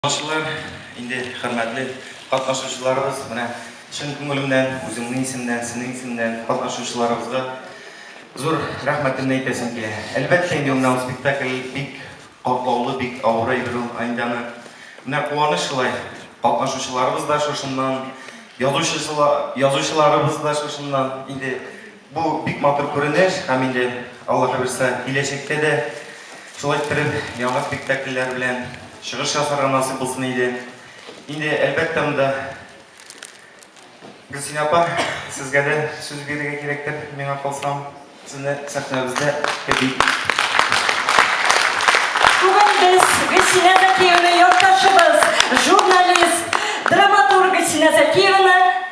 Тамашачылар, инде хөрмәтле катнашучыларыбыз, менә чын күңелемнән, үземнең исемнән, сезнең исемнән катнашучыларыбызга зур рәхмәтемне әйтәсем килә. Әлбәттә инде, менә ул спектакль бик катлаулы, бик авыр әйбер ул, анда аны менә куаныч шулай, катнашучыларыбыз да шушыннан, язучысы ла, язучыларыбыз да шушыннан, инде. Бу бик матур күренеш һәм инде Алла хәверса киләчәктә дә шулай иттереп яңа спектакльләр белән чыгыш ясарга насыйп булсын иде. Инде әлбәттә монда Гөлсинә апа сезгә дә сүз бирергә кирәктер, миңа калса сезне сәхнәбездә көтик. Бүген без Гөлсинә Зәкиеваны якташыбыз, журналист, драматург Гөлсинә Зәкиеваны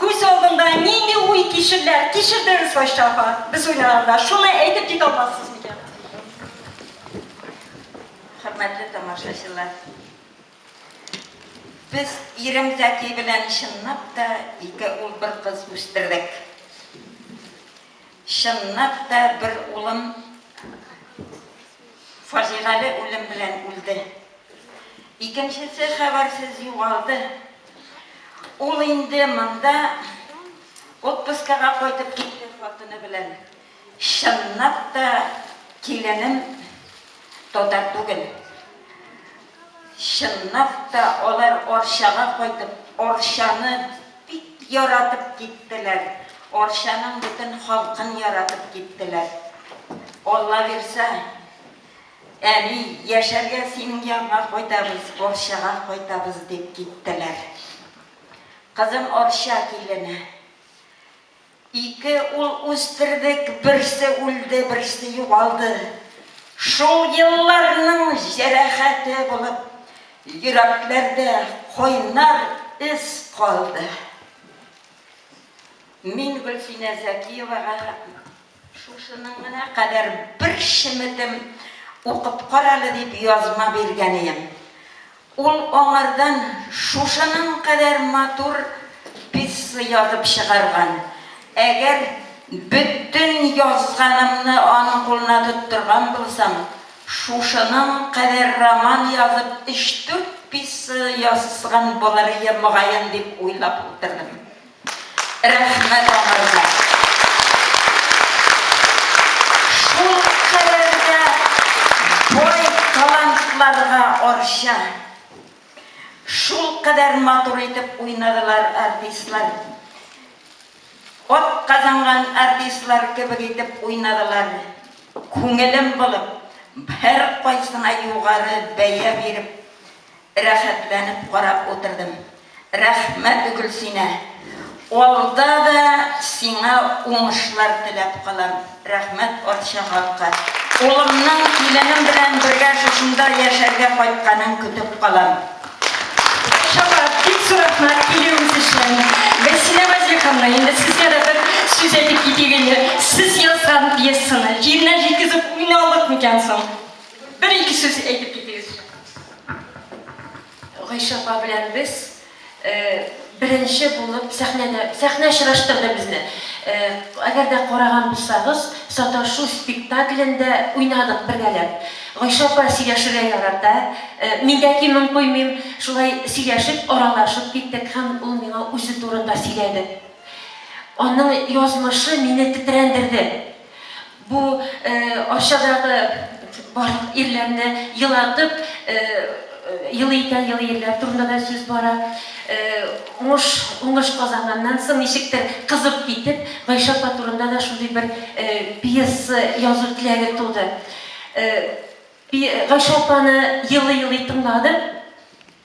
Күз алдында нинди уй кичерләр кичердегез Гайшә апа, без уйнаганда, шуны әйтеп китә алмассыз микән? Хөрмәтле тамашачылар, без ирем Зәки белән чынлап та ике ул бер кыз үстердек. Чынлап та бер улым фаҗигале үлем белән үлде. Икенчесе хәбәрсез югалды. Ул инде монда отпускага кайтып китте хатыны белән. Чынлап та киленем татар түгел. Чынлап та алар Арчага кайтып, Арчаны Бик яратып киттеләр. Арчаның бөтен халкын яратып киттеләр. Алла бирсә, әни, яшәргә синең янга кайтабыз, Арчага кайтабыз, дип киттеләр. Кызым Арча килене. Ике ул үстердек, берсе үлде, берсе югалды. Шул елларның җәрәхәте булып, йөрәкләрдә кайнар эз калды. Мин Гөлсинә Зәкиевага шушының гына кадәр бер шеметем укып кара әле дип язма биргән ием. Ул аңардан шушының кадәр матур пьеса язып чыгарган. Әгәр бөтен язганымны аның кулына тоттырган булсам, шушының кадәр роман язып, өч-дүрт пьеса язган булыр идем, мөгаен, дип уйлап утырдым. Рәхмәт аңарга! Шулкадәр дә бай талантларга Арча! Шулкадәр матур итеп уйнадылар артистлар. Атказанган артистлар кебек итеп уйнадылар. Күңелем булып, һәркайсына югары бәя биреп. Рәхәтләнеп карап утырдым. Рәхмәт Гөлсинә! Алда да сиңа уңышлар теләп калам. Рәхмәт Арча халкы! Улымның киленем белән бергә шушында яшәргә кайтканын көтеп калам. Шәфкать, бик зур рәхмәт килүегез өчен! Гөлсинә Вәзир ханым, инде сезгә дә бер сүз әйтеп китик инде. Сез язган пьесаны җиренә җиткезеп уйналдык микән соң? Бер-ике сүз әйтеп китегез. Гайшә апа белән без беренче булып сәхнәдә, сәхнә очраштырды безне. Әгәр дә караган булсагыз, саташу спектаклендә уйнадык бергәләп. Гайшә апа сөйләшергә ярата, мин дә кимен куймыйм. Шулай сөйләшеп, аралашып киттек һәм ул миңа үзе турында сөйләде. Аның язмышы мине тетрәндерде. Бу Арчадагы барлык ирләрне елатып елый икән елый ирләр турында да сүз бара. Уңыш уңыш казанганнан соң ничектер кызып китеп Гайшә апа турында да шундый бер пьеса язу теләге туды. Гайшә апаны елый елый тыңладым.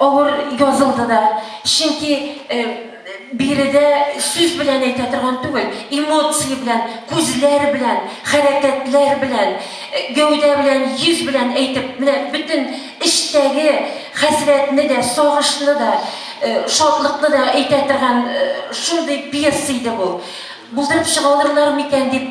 Авыр язылды да, чөнки биредә сүз белән әйтә торган түгел, эмоция белән, күзләр белән, хәрәкәтләр белән, гәүдә белән, йөз белән әйтеп, менә бөтен эчтәге хәсрәтне дә, сагышны да, шатлыкны да әйтә торган шундый пьеса иде бу. Булдырып чыга алырлар микән дип